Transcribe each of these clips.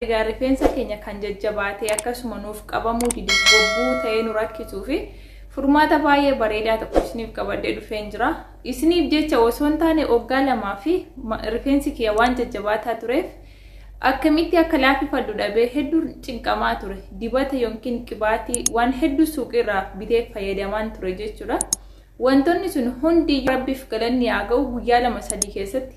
Egaa rifeensa keenya kan jajjabaatee akkasuma nuuf qabamuu dide gobbuu ta'ee nu rakkituu fi furmaata baay'ee bareedaa tokko isiniif qabadhee dhufeen jira. Isiniif jecha osoo hin taane waggaa lamaa fi rifeensi kiyya waan jajjabaataa tureef akkamitti akka laafifadhu dhabee hedduu cinqamaa ture. Dibata yookiin qibaatii waan hedduu suuqiirraa bitee fayyadamaan ture jechuudha. Wantoonni sun hundi rabbiif galanni haa ga'u guyyaa lama sadii keessatti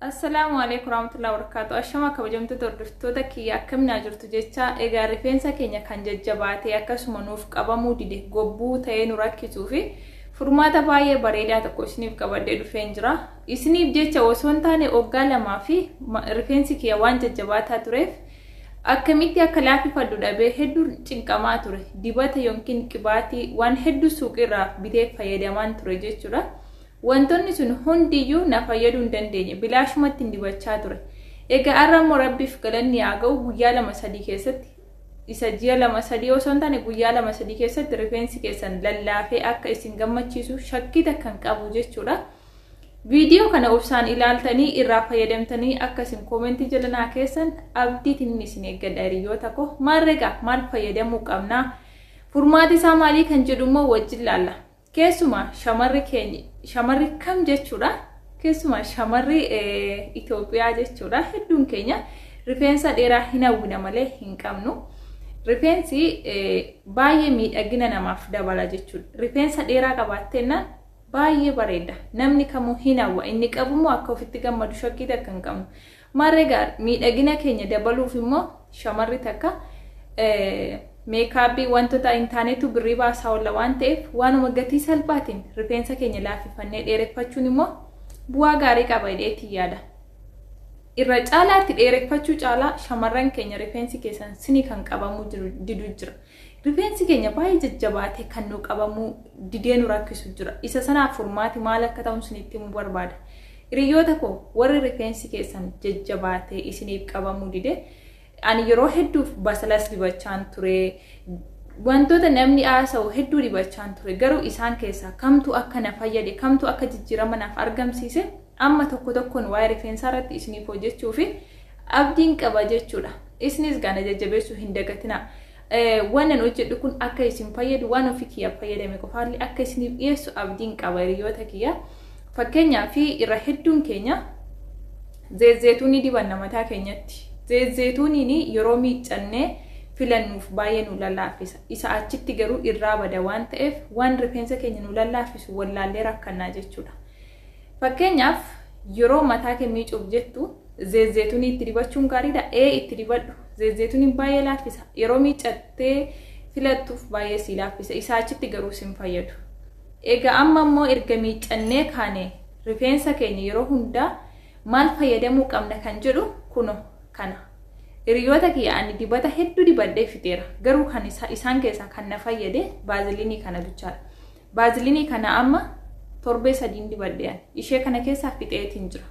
Assalaamu alaikum warahmatullahi wabarakatuh Ashama kabajamtoota hordoftoota kiyya akkaminaa jirtu jecha egaa rifeensa keenya kan jajjabaatee akkasuma nuuf qabamuu dide gobbuu ta'ee nu rakkisuu fi furmaata baay'ee bareedaa tokko isiniif qabadhee dhufeen jira isiniif jecha osoo hin taane oggaa lamaa fi rifeensi kiyya waan jajjabaataa tureef akkamitti akka laafifadhu dhabee hedduu cinqamaa ture dibata yookiin qibaatii waan hedduu suuqiirraa bitee fayyadamaan ture jechuudha. Wantoonni sun hundi iyyuu na fayyaduu hin dandeenye. Bilaashumattin dibachaa ture. Egaa har'a immoo Rabbiif galanni haa ga'u guyyaa lama sadii keessatti isa ji'a lama sadii osoo hin taane guyyaa lama sadii keessatti rifeensi keessan lallaafee akka isin gammachiisu shakkii takka hin qabu jechuudha. Viidiyoo kana obsaan ilaaltanii irraa fayyadamtanii akka isin koomentii jala naa keessan abdiitiin isin eeggadha hiriyoota koo maal regaa maal fayyadamuu qabnaa furmaati isaa maalii kan jedhu immoo wajjin laalla. Keessumaa shamarri keenya shamarri kam jechuudha keessumaa shamarri Itoophiyaa jechuudha hedduun keenya rifeensa dheeraa hin hawwina malee hin qabnu. Rifeensi baay'ee miidhagina namaaf dabala jechuudha. Rifeensa dheeraa qabaatteenna baay'ee bareeda. Namni kamuu hin hawwa inni qabummoo akka ofitti gammadu shakkii takka hin qabnu. Maarree gaa miidhagina keenya dabaluuf immoo shamarri takka meekaappii wantoota hin taanetu birrii baasaa oolla waan ta'eef waanuma gatii salphaatiin rifeensa keenya laaffifannee dheereffachuun immoo bu'aa gaarii qaba jedheetiin yaada. Irra caalaatti dheereffachuu caalaa shamarran keenya rifeensi keessan sinii kan qabamuu didu jira. Rifeensi keenya baay'ee jajjabaatee kan nu qabamuu didee nu rakkisu jira. Isa sanaaf furmaati maal akka ta'u isinitti himuu barbaada. Hiriyoota koo warri rifeensi keessan jajjabaatee isiniif qabamuu dide ani yeroo hedduuf basalas dibachaan ture wantoota namni haasa'u hedduu dibachaan ture garuu isaan keessaa kamtu akka na fayyade kamtu akka jijjiirama naaf argamsiise Amma tokko tokkoon waa'ee rifeensaa irratti isiniif hojjechuuf abdiin qaba jechuudha. Isinis gaana jajjabeessuu hin dagatinaa. Waanan hojjedhu kun akka isin fayyadu waan ofii kiyyaaf fayyadame qofaallee akka isiniif dhiyeessu abdiin qaba hiriyoota kiyya. Fakkeenyaaf irra hedduun keenya zeezzeetuunii dibanna mataa keenyatti. Zeezzeetuuniin yeroo miiccannee filannuuf baay'ee nu lallaaffisa. Isa achitti garuu irraa bada waan ta'eef waan rifeensa keenya nu lallaafisu wallaallee rakkannaa jechuudha. Fakkeenyaaf yeroo mataa kee miicuuf jettu zeezzeetunii itti dibachuun gaariidha. Ee itti dibadhu. Zeezzeetuniin baay'ee laaffisa. Yeroo miicattee filattuuf baay'ee sii laaffisa. Isaa achitti garuu sin fayyadu. Egaa amma immoo erga miicannee kaane rifeensa keenya yeroo hundaa maal fayyadamuu qabna kan jedhu kuno kana. Hiriyoota kiyya ani dibata hedduu dibadhee fixeera. Garuu kan isaan keessaa kan na fayyade baaziliinii kana bichaadha. Baaziliinii kana amma torbee sadiin dibadhe ani. Ishee kana keessaa fixeetiin jira.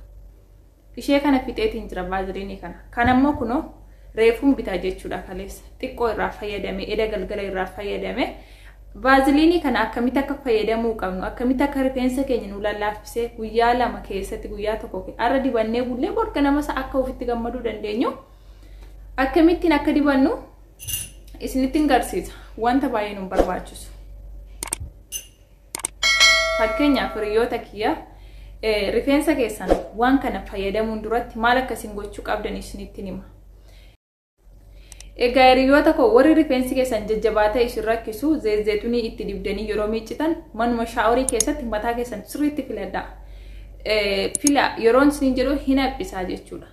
Ishee kana fixeetiin jira baaziliinii kana. Kan ammoo kunoo reefuun bitaa jechuudha kaleessa. Xiqqoo irraa fayyadame, eda galgala irraa fayyadame. Baaziliinii kana akkamitti akka fayyadamuu qabnu, akkamitti akka rifeensa keenya nu lallaaffisee guyyaa lama keessatti guyyaa tokko har'a dibannee bullee borga namasa akka ofitti gammaduu dandeenyu akkamittiin akka dibannu isinitti hin garsiisa wanta baay'ee nu barbaachisu. Fakkeenyaaf hiriyoota kiyya rifeensa keessan waan kana fayyadamuun duratti maal akka isin gochuu qabdan isinitti hima. Egaa hiriyoota koo warri rifeensi keessan jajjabaatee isin rakkisu zeezeetunii itti dibdanii yeroo miiccitan manuma shaaworii keessatti mataa keessan sirriitti filadhaa. Fila yeroon isin jedhu hin haphisaa jechuudha.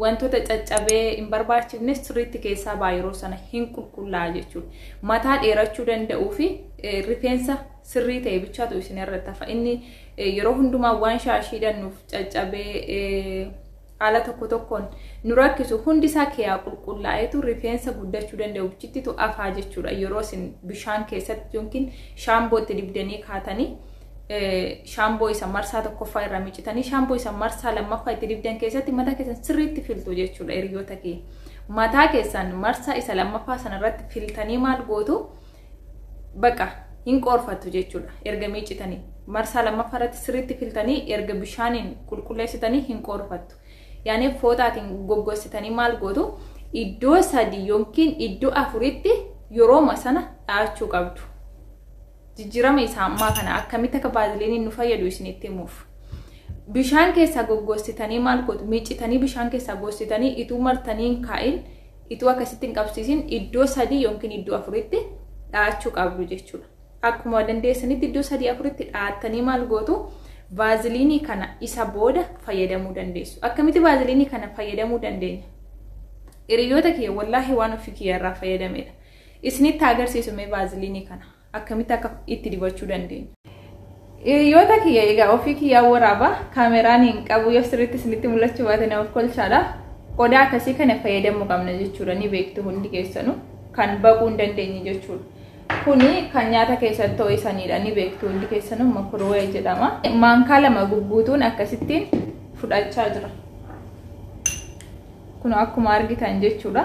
Wantoota caccabee hin barbaachifnes sirriitti keessaa ba'a yeroo sana hin qulqullaa'a jechuudha. Mataa dheerachuu danda'uu fi rifeensa sirrii ta'e bichaatu isin irratti hafa. Inni yeroo hundumaa waan shaashii hidhannuuf caccabee haala tokko tokkoon nu rakkisu hundi isaa keeyaa qulqullaa'eetu rifeensa guddachuu danda'u bichittitu afaa jechuudha. Yeroo isin bishaan keessatti yookiin shaambootti dibdanii kaatanii shaamboo isa marsaa tokkoffaa irraa miccitanii shaamboo isa marsaa lammaffaa itti dibdan keessatti mataa keessan sirriitti filtu jechuudha hiriyoota kee. Mataa keessan marsaa isa lammaffaa sanarratti filtanii maal gootu baqa hin qoorfattu jechuudha erga miiccitanii. Marsaa lammaffaa irratti sirriitti filtanii erga bishaaniin qulqulleessitanii hin qoorfattu. Yaani footaatiin goggossitanii maal gootu iddoo sadii yookiin iddoo afuritti yerooma sana dhahachuu qabdu. Jijjiirama isa ammaa kana akkamitti akka vaaziliiniin nu fayyadu isinitti himuuf. Bishaan keessaa goggossitanii maal gootu? Miicitanii bishaan keessaa gossitanii ituu martanii hin kaa'in, ituu akkasitti hin qabsiisin iddoo sadii yookiin iddoo afuritti dha'achuu qabdu jechuudha. Akkuma dandeessanitti iddoo sadii afuritti dha'attanii maal gootu? Vaaziliinii kana isa booda fayyadamuu dandeessu. Akkamitti vaaziliinii kana fayyadamuu dandeenya? Hiriyoota kiyya wallaahi waan ofii kiyya irraa fayyadamedha. Isinitti haa agarsiisu mee vaaziliinii kana akkamitti akka itti dibachuu dandeenyu. Hiriyoota kiyya egaa ofii kiyyaa waraaba kaameraan hin qabu yoo sirriitti isinitti mul'achuu baate na of kolchaadha. Qodaa akkasii kana fayyadamuu qabna jechuudha ni beektu hundi keessanu kan baquu hin dandeenye jechuudha. Kuni kan nyaata keessatti ho'isanidha ni beektu hundi keessanu makurwee jedhama. Maankaa lama gugguutuun akkasittiin fudhachaa jira. Kun akkuma argitan jechuudha.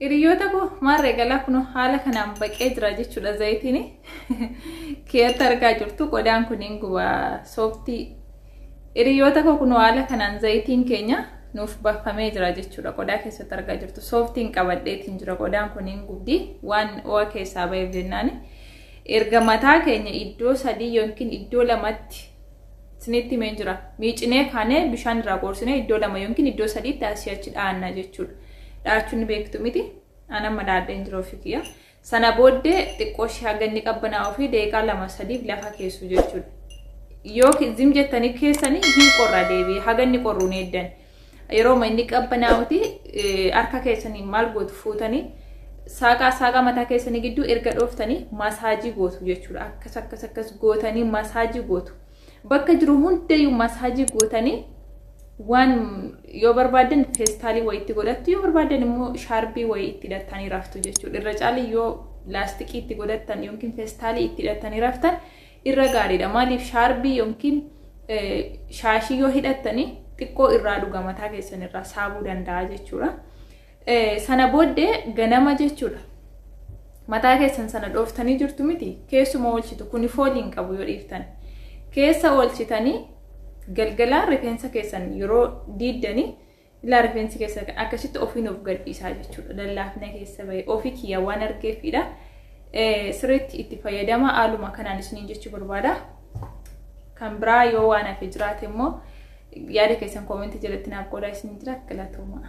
Hiriyoota koo maarree galaa kun haala kanaan baqee jira jechuudha zayitiin keessatti argaa jirtu qodaan kun hin guba sooftii. Hiriyoota koo kun haala kanaan zayitiin keenya nuuf baafamee jira jechuudha qodaa keessatti argaa jirtu sooftiin qabadheetiin jira qodaan kun hin gubdi waan o'a keessaa ba'eef jennaan erga mataa keenya iddoo sadii yookiin iddoo lamatti isinitti himeen jira. Miicinee kaanee bishaan irraa qoorsinee iddoo lama yookiin iddoo sadiitti asii achi dhaanna jechuudha. Dhaachuun ni beektu miti. An amma dhaadheen jira ofii kiyya. Sana booddee xiqqoo ishee haga inni qabbanaa ofii daqiiqaa lama sadiif lafa keessu jechuudha. Yoo zim jettanii keessanii hin qorra deebi'ee haga inni qorruun eeddan. Yerooma inni qabbanaa'uti harka keessanii maal gootu fuutanii saaqaa saaqaa mataa keessanii gidduu erga dhooftanii masaajii gootu jechuudha. Akkas akkas akkas gootanii masaajii gootu. Bakka jiru hundayyuu masaajii gootanii waan yoo barbaadan feestaalii wayii itti godhattu yoo barbaadan immoo shaarbii wayii itti hidhattanii raftu jechuudha. Irra caalii yoo laastikii itti godhattan yookiin feestaalii itti hidhattanii raftan irra gaariidha maaliif shaarbii yookiin shaashii yoo hidhattanii xiqqoo irraa dhuga mataa keessan irraa saabuu danda'a jechuudha. Sana booddee ganama jechuudha. Mataa keessan sana dhooftanii jirtu miti keessuma oolchitu kuni foolii hin qabu yoo dhiiftan. Keessa oolchitanii galgalaan rifeensa keessan yeroo diiddanii Ilaa rifeensi keessa akkasitti ofiin of gadhiisaa jechuudha. Lallaafina keessa bahe ofii kiyya waan argeefidha. Sirriitti itti fayyadama haaluma kanaan isiniin jechuu barbaada. Kan biraa yoo waan hafe jiraate immoo yaada keessan koomentii jalatti naaf qoodaa isiniin jira galatooma.